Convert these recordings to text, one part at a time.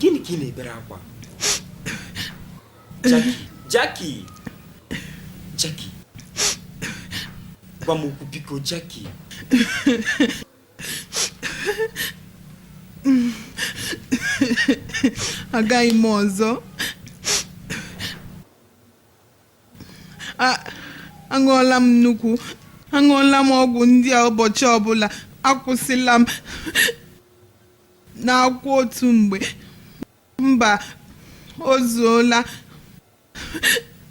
gịnị ka ị na-ebere akwa Jackie Jackie Jackie gwa m okwu biko Jackie agaghị m ọzọ aṅụọla m nnukwu aṅụọla m ọgwụ ndị a ụbọchị ọbụla akwụsịla m na-aṅụkwa otu mgbe mba o zuola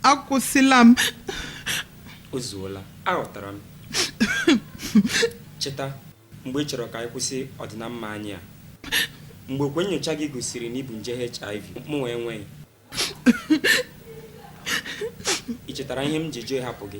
akwụsịla m o zuola aghọtara m cheta mgbe ị chọrọ ka anyị kwụsị ọdịnamma anyị a mgbe okwe nyocha gị gosiri na i bu nje hiv mụnwa enweghị ị chetara ihe m ji jụ ịhapụ gị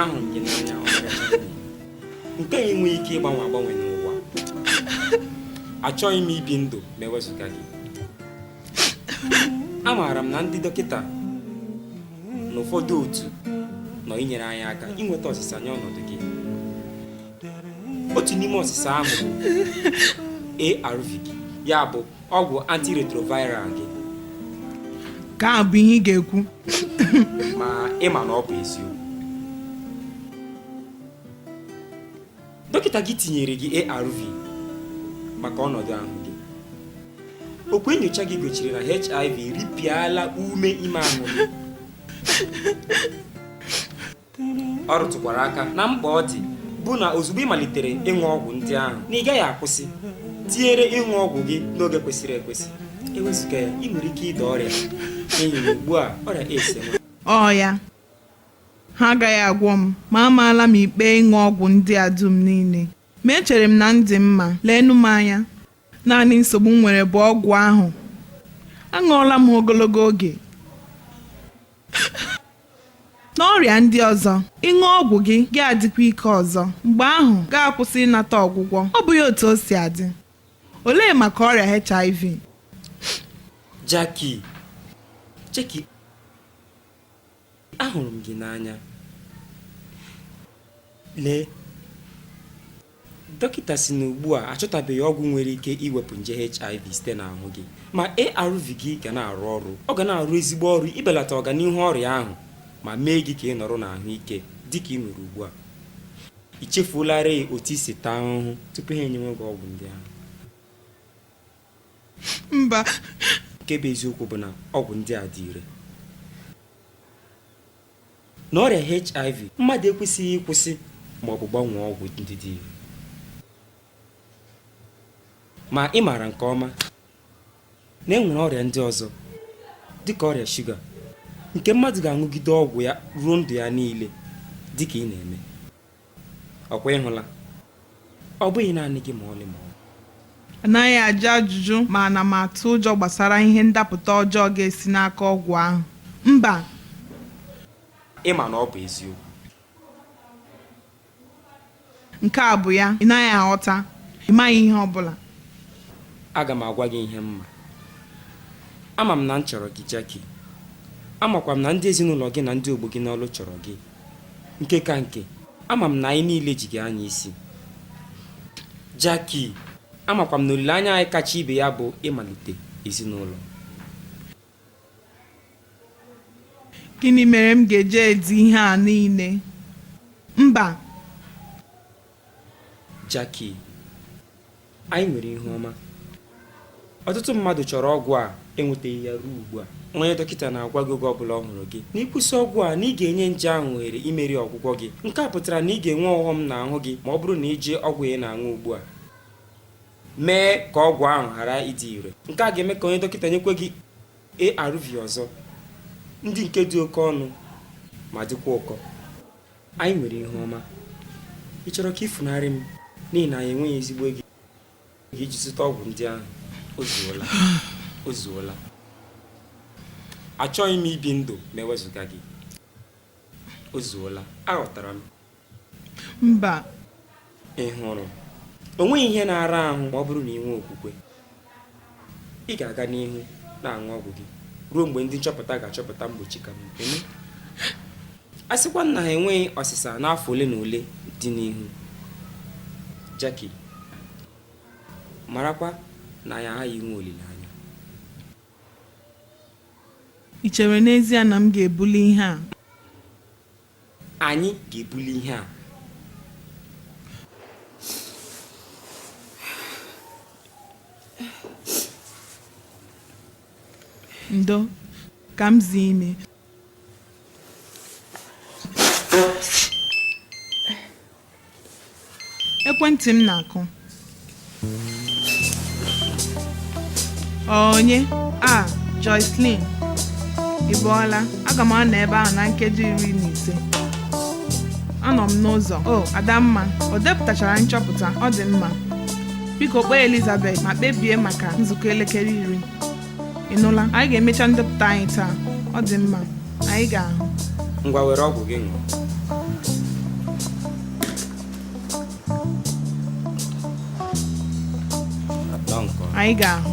ahụrụ m gị n'anya nke a enweghị ike ịgbanwe agbanwe n'ụwa achọghị m ibi ndụ ma ewezụga gị amaara m na ndị dọkịta na ụfọdụ otu nọ inyere anyị aka inweta ọsịsa nye ọnọdụ gị otu n'ime ọsịsa ahụ bụ ARV ya bụ ọgwụ antiretroviral gị nke ahụ bụ ihe ị ga-ekwu ma ị ma na ọ bụ eziokwu dọkịta gị tinyere gị ARV maka ọnọdụ ahụ gị okwu nyocha gị gosiri na HIV ripịala ume ime ahụ gị ọ rụtụkwara aka na mkpa ọ dị bụ na ozugbo ị malitere ịṅụ ọgwụ ndị ahụ na ị gaghị akwụsị tinyere ịṅụ ọgwụ gị n'oge kwesịrị ekwesị ewezụga ya ị nwere ike ịda ọrịa n'ihi na ugbu a ọrịa AIDS enwe ọ ya ha agaghị agwọ m ma amaala m ikpe ịṅụ ọgwụ ndị a dum niile ma echere m na m dị mma leenụ m anya naanị nsogbu m nwere bụ ọgwụ ahụ aṅụọla m ha ogologo oge N'ọrịa ndị ọzọ, ị ṅụọ ọgwụ gị gị adịkwa ike ọzọ, mgbe ahụ gị akwụsị ịnata ọgwụgwọ. Ọ bụghị otu o si adị? Olee maka ọrịa HIV? Jackie, Jackie, ahụrụ m gị n'anya. Lee, Dọkịta sị na ugbu a achọtabeghị ọgwụ nwere ike iwepụ nje HIV site n'ahụ gị, ma ARV gị ga na-arụ ọrụ. Ọ ga na-arụ ezigbo ọrụ ibelata ọganihu ọrịa ahụ ma mee gị ka ị nọrọ n'ahụ ike dị ka i nwere ugbu a. I chefuolarịị otu i si taa ahụhụ tupu ha enyewe gị ọgwụ ndị ahụ? Mba. Nke bụ eziokwu bụ na ọgwụ ndị a dị ire. Na ọrịa HIV, mmadụ ekwesịghị ịkwụsị ma ọ bụ gbanwee ọgwụ ndị dị ire. Ma ị maara nke ọma na e nwere ọrịa ndị ọzọ, dị ka ọrịa shuga, nke mmadụ ga-aṅụgide ọgwụ ya ruo ndụ ya niile, dị ka ị na-eme. ọ kwa ị hụla ọ bụghị naanị gị ma ọlị ma ọ anaghị ajụ ajụjụ ma ana m atụ ụjọ gbasara ihe ndapụta ọjọọ ga-esi n'aka ọgwụ ahụ mba ị ma na ọ bụ eziokwu nke a bụ ya ị naghị aghọta ị maghị ihe ọ bụla aga m agwa gị ihe m ma ama m na m chọrọ gị jackie amakwa m na ndị ezinụlọ gị na ndị ogbo gị n'ọlụ chọrọ gị Nke ka nke, ama m na anyị niile ji gị anya isi. Jackie, amakwa m na olileanya anyị kacha ibe ya bụ ịmalite ezinụlọ. Gịnị mere m ga-eji edi ihe a niile? Mba! Jackie, anyị nwere ihu ọma. Ọtụtụ mmadụ chọrọ ọgwụ a enwetaghị ya ruo ugbu a. Onye dọkịta na-agwa gị oge ọ bụla ọ hụrụ gị na ịkwụsị ọgwụ a na ị ga-enye nje ahụ ohere imeri ọgwụgwọ gị. Nke a pụtara na ị ga-enwe ọghọm n'ahụ gị ma ọ bụrụ na i ji ọgwụ ị na-aṅụ ugbu a mee ka ọgwụ ahụ ghara ịdị ire. Nke a ga-eme ka onye dọkịta nyekwa gị ARV ọzọ, ndị nke dị oke ọnụ ma dịkwa ụkọ. Anyị nwere ihu ọma. Ị chọrọ ka i funarị m n'ihi na anyị enweghị ezigbo ego iji zụta ọgwụ ndị ahụ? O zuola. O zuola. Achọghị m ibi ndụ ma e wezuga gị. O zuola. Aghọtara m. Mba. Ị hụrụ, o nweghị ihe na-ara ahụ ma ọ bụrụ na ị nwee okwukwe. Ị ga-aga n'ihu na-aṅụ ọgwụ gị ruo mgbe ndị nchọpụta ga-achọpụta mgbochi ka mma. Eme? A sịkwa na ha enweghị ọsịsa n'afọ ole na ole dị n'ihu. Jackie, marakwa na anyị aghaghị inwe olileanya. I chere n'ezie na m ga-ebuli ihe a? Anyị ga-ebuli ihe a. Ndo, ka m zie imi. Ekwentị m na-akụ. Onye? A, Jocelyn. Ị bọọla? Aga m anọ ebe ahụ na nkeji iri na ise. Anọ m n'ụzọ. O, Adamma, o depụtachara nchọpụta. Ọ dị mma. Biko kpọọ Elizabeth ma kpebie maka nzukọ elekere iri. ị nụla anyị ga-emecha ndepụta anyị taa ọ dị mma anyị ga-ahụ ngwa were ọgwụ gị ṅụọ Nọ nke ọma. anyị ga-ahụ